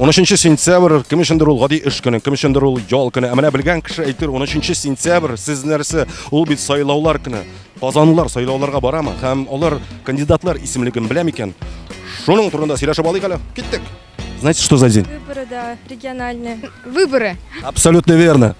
13 сентябрь кем өчендер ул гади эш көне, кем өчендер ул ял көне. Ә менә белгән кеше әйтер 13 сентябрь сез нәрсә? Ул бит сайлаулар көне. Казанлылар сайлауларга барамы һәм алар кандидатлар исемлеген белә микән? Шуның турында сөйләшеп алыйк әле. Киттек. Знаете, что за день? Выборы, да, региональные. Выборы. Абсолютно верно.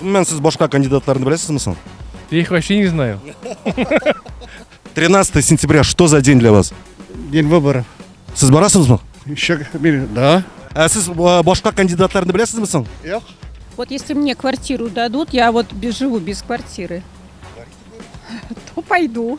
Гомумән, сез башка кандидатларны беләсезме соң? Я их вообще не знаю. 13 сентября, что за день для вас? День выборов. Сез барасызмы? Еще, да. Ә сез э, башка кандидатларны беләсезме соң? Юк. Вот если мне квартиру дадут, я вот без- живу без квартиры, то пойду.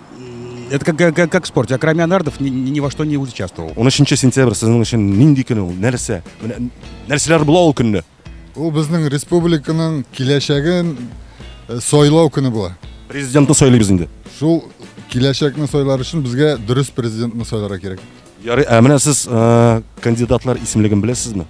Это как, как, как в спорте. А кроме анардов ни, ни во что не участвовал. 13 сентябрь сезон өчен нинди көн ул? Нәрсә? Менә нәрсәләр була ул көнне? Ул безнең республиканың киләчәген э, сайлау көне була. Президентны сайлыйбыз инде. Шул киләчәкне сайлар өчен безгә дөрес президентны сайларга кирәк. Ярый, ә менә сез э, кандидатлар исемлеген беләсезме?